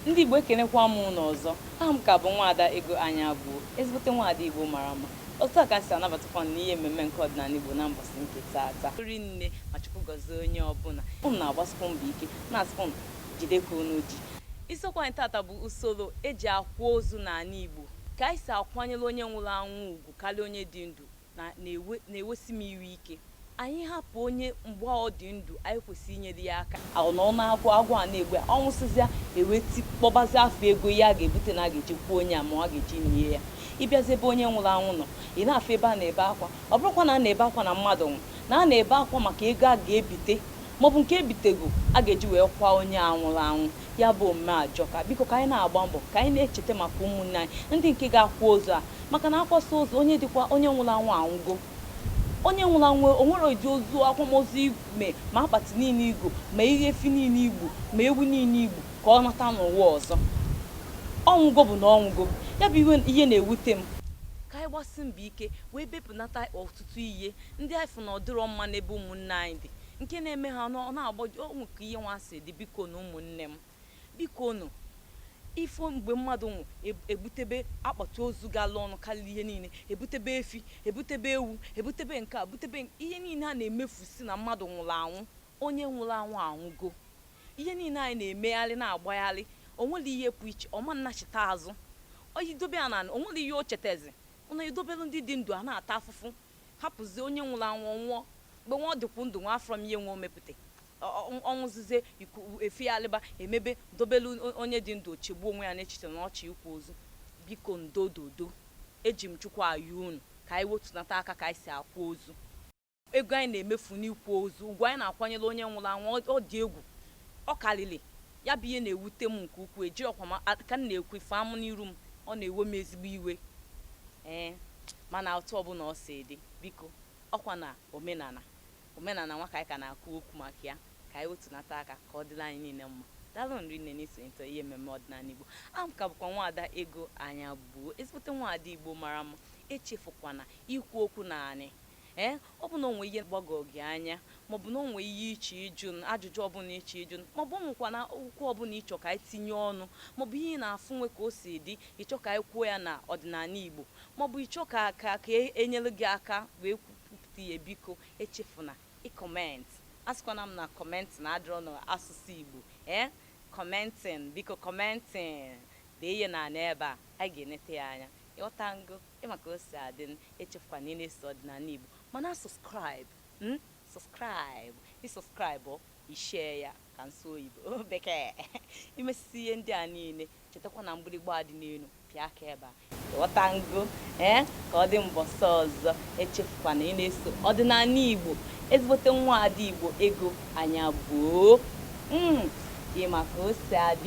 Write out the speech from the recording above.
ndị igbo ekenekwa m ụnụ ọzọ aha m ka bụ nwaada ego anya gbuo ezigbote nwaada igbo mara mma otu a ka si anabatakwa ụnụ n'ihe mmemme nke ọdịnala igbo na mbọsị nke taata rinne ma chukwu gọzie onye ọbụla ụnụ na-agbasikwa mbọ ike na-asịkwa ụnụ jidekwa ka ụnụ ji isiokwu anyị taata bụ usoro eji akwa ozu n'ala igbo ka anyị si akwanyere onye nwụrụ anwụ ugwu karịa onye dị ndụ na na-ewe na-ewesi m iwe ike. Anyị hapụ onye mgbe a ọ dị ndụ, anyị kwesịrị inyere ya aka. Ọ nọ n'agụụ, agụụ a na-egbu ya, ọ nwụsịzịa, e wee ti kpọbazịa afọ ego ihe a ga-ebute na a ga-eji kwaa onye a ma a ga-eji nie ya. Ị bịazie ebe onye nwụrụ anwụ nọ, ị na-afụ ebe a na-ebe akwa. Ọ bụrọkwa na a na-ebe akwa na mmadụ nwụrụ, na a na-ebe akwa maka ego a ga-ebite maọbụ nke e bitego a ga-eji wee kwaa onye a nwụrụ anwụ. Ya bụ omume ajọka. Biko ka anyị na-agba mbọ ka anyị na-echeta maka ụmụnne anyị ndị nke ga-akwa ozu a maka na akwasịa ozu onye dịkwa onye nwụrụ anwụ anwụgo onye nwụrụ anwụ o nwerọ ụdị ozu akwamozu i me ma akpati niile i go ma ihe efi niile i gbu ma ewu niile i gbu ka ọ nata n'ụwa ọzọ ọ nwụgo bụ na ọ nwụgo ya bụ iwe- ihe na-ewute m ka anyị gbasi mbọ ike wee bepụnata ọtụtụ ihe ndị anyị fụ na ọ dịrọ mma n'ebe ụmụnne anyị dị nke na-eme ha ọ na-agbọjọ o nwe ka ihe nwa si dị biko nụ ụmụnne m biko nụ ị fụ mgbe mmadụ nwụ e- ebutebe akpati ozu gala ọnụ karịa ihe niile ebutebe efi ebutebe ewu ebutebe nke a butebe nke- ihe niile a na-emefusi na mmadụ nwụrụ anwụ onye nwụrụ anwụ anwụgo ihe niile anyị na-emegharị na-agbagharị o nwerọ ihe pụ iche ọ ma nachite azụ i dobe ya n'ana o nwerọ ihe o chetezi ọ na-edobere ndị dị ndụ a na-ata afụfụ hapụzie onye nwụrụ anwụ ọ nwụọ mgbe nwa ọ dịkwu ndụ nwa afụrọ m ihe nwa o mepụta Ọ- ọ- ọ nwụzizie efegharịba emebe dobelu o- onye dị ndụ o chegbuo onwe ya n'echiche na ọ chọ ịkwa ozu biko ndododo eji m chukwu ayọ unu ka anyị wetunata aka ka anyị si akwa ozu ego anyị na-emefu n'ịkwa ozu ugwu anyị na-akwanyere onye nwụrụ anwụ ọ- ọ dị egwu ọ karịrị Ya bụ ihe na-ewute m nke ukwuu, ejirọkwa m a- ka m na-ekwu ị fụ amụ n'iru m, ọ na-ewe m ezigbo iwe. Ee, mana otu ọbụla ọ si dị, biko, ọkwa na omenala, omenala nwa ka anyị ka na-akwu okwu maka ya, ka anyị wetunata aka ka ọ dịrị anyị niile mma. Daalụnụ rinne n'isonyetụ ihe mmemme ọdịnala Igbo. Aha m ka bụkwa nwaada Ego Anya Gbuo, ezigbote nwaada Igbo mara mma. Echefukwana ikwu okwu n'anị Ee, ọ bụ na o nwee ihe gbagọrọ gị anya, maọbụ na o nwee ihe ị chọọ ịjụ m, ajụjụ ọbụla ị chọọ ịjụ m, maọbụ o nwekwana okwu ọbụla ị chọrọ ka anyị tinye ọnụ, maọbụ ihe ị na-afụ o nwe ka o si dị, ị chọọ ka anyị kwuo ya na ọdịnala Igbo, maọbụ ị chọọ ka ka ka e nyere gị aka wee kwupụta ya, biko echefuna ị comment. Asịkwana m na commenting adịrọ n'asụsụ Igbo. Ee, commenting, biko commenting. Dee ya n'ala ebe a, anyị ga-enete ya anya. Ị ghọtago? Ị ma ka o si adị n, echefukwana ị na-eso Ọdịnala Igbo. Ma na subscribe n, subscribe, ị subscribe ọ, i share ya ka m sụọ oyibo, bekee. I mesịsịa ihe ndị a niile, chetakwa na mgbịrịgba a dị n'elu, pịa aka ebe a. Ị ghọtango? Ee, ka ọ dị mbọsị ọzọ, echefukwana ị na-eso Ọdịnala Igbo. Ezigbote nwaada Igbo Ego Anyabụo. M, ị ma ka o si adị.